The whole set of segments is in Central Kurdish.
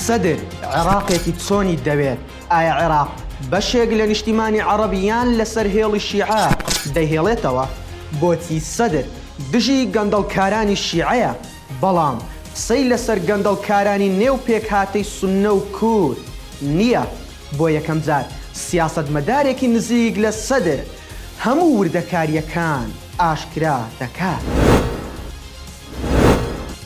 سەدر عێراقێکی چۆنی دەوێت ئایا عێراق بەشێک لە نیشتیمانی عەڕەبیان لەسەر هێڵی شیعە دەهێڵێتەوە بۆچی سەدر دژی گەندەڵکارانی شیعەیە بەڵام قسەی لەسەر گەندەڵکارانی نێو پێکهاتەی سنە و کور نییە بۆ یەکەم جار سیاست مەدارێکی نزیک لە سەدر هەموو وردەکاریەکان ئاشکرا دەکات.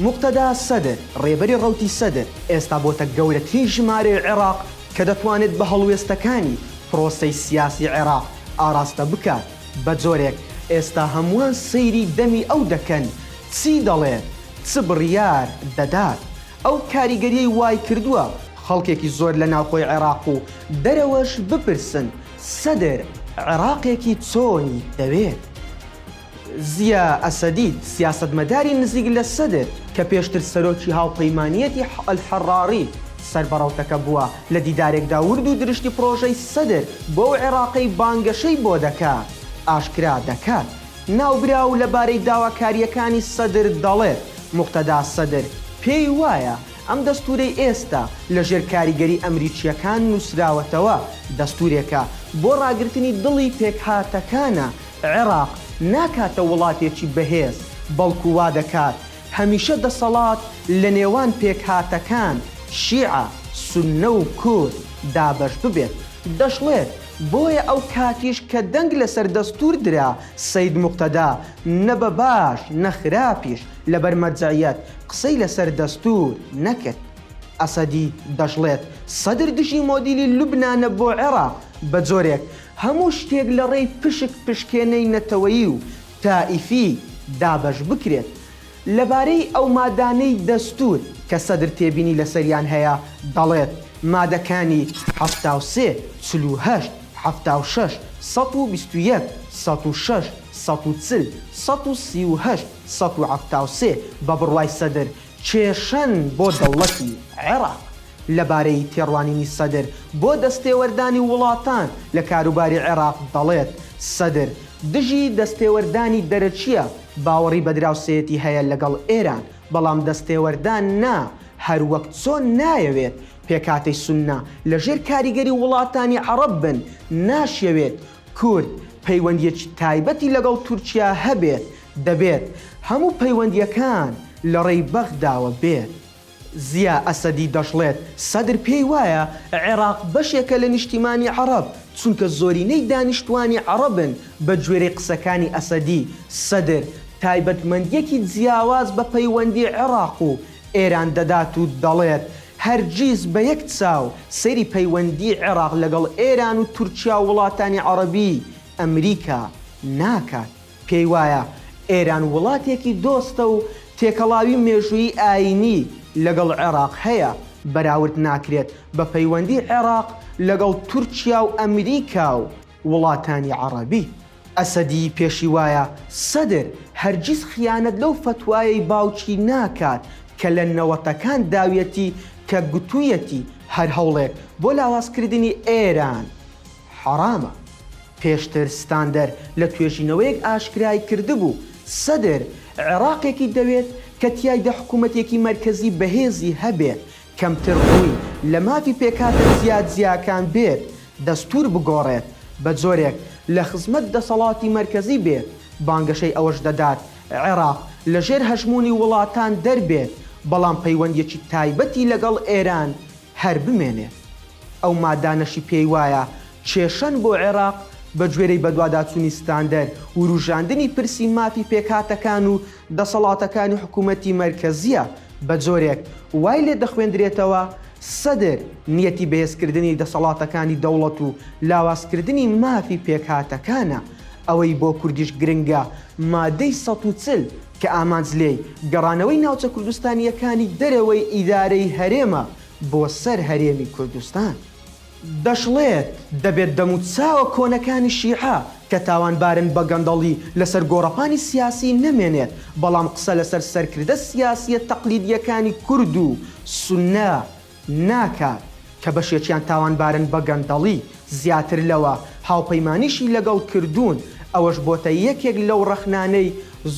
موقتەدا سەدر، ڕێبەری ڕەوتی سەدر، ئێستا بۆتە گەورەترین ژمارەی عێراق کە دەتوانێت بە هەڵوێستەکانی پرۆسەی سیاسی عێراق ئاراستە بکات، بە جۆرێک ئێستا هەمووان سەیری دەمی ئەو دەکەن چی دەڵێت، چ بڕیار دەدات. ئەو کاریگەریەی وایکردووە خەڵکێکی زۆر لە ناوخۆی عێراق و دەرەوەش بپرسن، سەدر عێراقێکی چۆنی دەوێت؟ زیا ئەسەدی، سیاسەتمەداری نزیک لە سەدر، کە پێشتر سەرۆکی هاوپەیمانییەتی حە ئەلحەڕاڕی سەر بە ڕەوتەکە بووە، لە دیدارێکدا ورد و درشتی پڕۆژەی سەدر بۆ ئەو عێراقەی بانگەشەی بۆ دەکا، ئاشکرا دەکات. ناوبراو لەبارەی داواکارییەکانی سەدر دەڵێت، موقتەدا سەدر پێی وایە ئەم دەستوورەی ئێستا لە ژێر کاریگەری ئەمریکییەکان نووسراوەتەوە، دەستوورێکە بۆ ڕاگرتنی دڵی پێکهاتەکانە، عێراق ناکاتە وڵاتێکی بەهێز، بەڵکو وا دەکات هەمیشە دەسەڵات لە نێوان پێکهاتەکان، شیعە، سوننە و کورد، دابەش ببێت. دەشڵێت، بۆیە ئەو کاتیش کە دەنگ لەسەر دەستوور درا، سەید موقتەدا، نە بە باش نە خراپیش، لەبەر مەرجەعیەت قسەی لەسەر دەستوور نەکرد. ئەسەدی دەشڵێت، سەدر دژی مۆدیلی لوبنانە بۆ عێراق، بە جۆرێک هەموو شتێک لە ڕێی پشک پشکێنەی نەتەوەیی و تائیفی دابەش بکرێت. لەبارەی ئەو مادانەی دەستوور کە سەدر تێبینی لەسەریان هەیە دەڵێت، مادەکانی، حەفتا و سێ، چل و هەشت، حەفتا و شەش، سەد و بیست و یەک، سەد و شەش، سەد و چل، سەد و سی و هەشت، سەد و حەفتا و سێ، بە بڕوای سەدر، کێشەن بۆ دەوڵەتی عێراق لەبارەی تێڕوانینی سەدر بۆ دەستێوەردانی وڵاتان لە کاروباری عێراق دەڵێت، سەدر دژی دەستێوەردانی دەرەکییە، باوەڕی بە دراوسێیەتی هەیە لەگەڵ ئێران، بەڵام دەستێوەردان نا، هەروەک چۆن نایەوێت پێکهاتەی سوننە لەژێر کاریگەری وڵاتانی عەڕەب بن، ناشیەوێت کورد پەیوەندییەکی تایبەتی لەگەڵ تورکیا هەبێت، دەبێت هەموو پەیوەندییەکان لە ڕێی بەغداوە بێت. زیا ئەسەدی دەشڵێت سەدر پێی وایە عێراق بەشێکە لە نیشتیمانی عەڕەب، چونکە زۆرینەی دانیشتوانی عەڕەبن، بە گوێرەی قسەکانی ئەسەدی، سەدر تایبەتمەندییەکی جیاواز بە پەیوەندی عێڕاق و ئێران دەدات و دەڵێت هەرگیز بە یەک چاو سەیری پەیوەندی عێڕاق لەگەڵ ئێران و تورکیا و وڵاتانی عەڕەبی ئەمریکا ناکات. پێی وایە ئێران وڵاتێکی دۆستە و تێکەڵاوی مێژوویی ئایینی لەگەڵ عێراق هەیە، بەراورد ناکرێت بە پەیوەندی عێراق لەگەڵ تورکیا و ئەمریکا و وڵاتانی عەڕەبی. ئەسەدی پێشی وایە سەدر هەرگیز خیانەت لەو فەتوایەی باوکی ناکات کە لە نەوەتەکان داویەتی کە گوتوویەتی هەر هەوڵێک بۆ لاوازکردنی ئێران حەرامە. پێشتر ستاندەر لە توێژینەوەیەک ئاشکرای کردبوو، سەدر عێراقێکی دەوێت کە تیایدا حکوومەتێکی مەرکەزی بەهێزی هەبێت، کەمتر ڕووی لە مافی پێکهاتە جیاجیاکان بێت، دەستوور بگۆڕێت بە جۆرێک لە خزمەت دەسەڵاتی مەرکەزی بێت، بانگەشەی ئەوەش دەدات عێراق لەژێر هەژموونی وڵاتان دەربێت، بەڵام پەیوەندییەکی تایبەتی لەگەڵ ئێران هەر بمێنێ. ئەو مادانەشی پێی وایە کێشەن بۆ عێراق، بە گوێرەی بەدواداچوونی ستاندەر، ورووژاندنی پرسی مافی پێکهاتەکان و دەسەڵاتەکانی حکوومەتی مەرکەزییە، بە جۆرێک وای لێ دەخوێندرێتەوە سەدر نیەتی بەهێزکردنی دەسەڵاتەکانی دەوڵەت و لاوازکردنی مافی پێکهاتەکانە. ئەوەی بۆ کوردیش گرنگە مادەی سەد و چل، کە ئامانج لێی گەڕانەوەی ناوچە کوردستانییەکانی دەرەوەی ئیدارەی هەرێمە بۆ سەر هەرێمی کوردستان. دەشڵێت، دەبێت دەموچاوە کۆنەکانی شیعە کە تاوانبارن بە گەندەڵی لەسەر گۆڕەپانی سیاسی نەمێنێت، بەڵام قسە لەسەر سەرکردە سیاسییە تەقلیدییەکانی کورد و سوننە ناکات، کە بەشێکیان تاوانبارن بە گەندەڵی، زیاتر لەوە هاوپەیمانیشی لەگەڵ کردوون، ئەوەش بۆتە یەکێک لەو ڕەخنانەی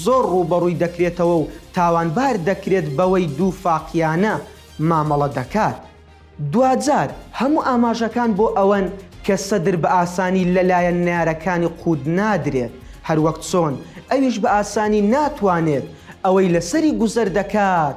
زۆر ڕووبەڕووی دەکرێتەوە و تاوانبار دەکرێت بەوەی دووفاقییانە مامەڵە دەکات. دواجار هەموو ئاماژەکان بۆ ئەوەن کە سەدر بە ئاسانی لەلایەن نەیارەکانی قووت نادرێت، هەروەک چۆن ئەویش بە ئاسانی ناتوانێت ئەوەی لەسەری گوزەر دەکات،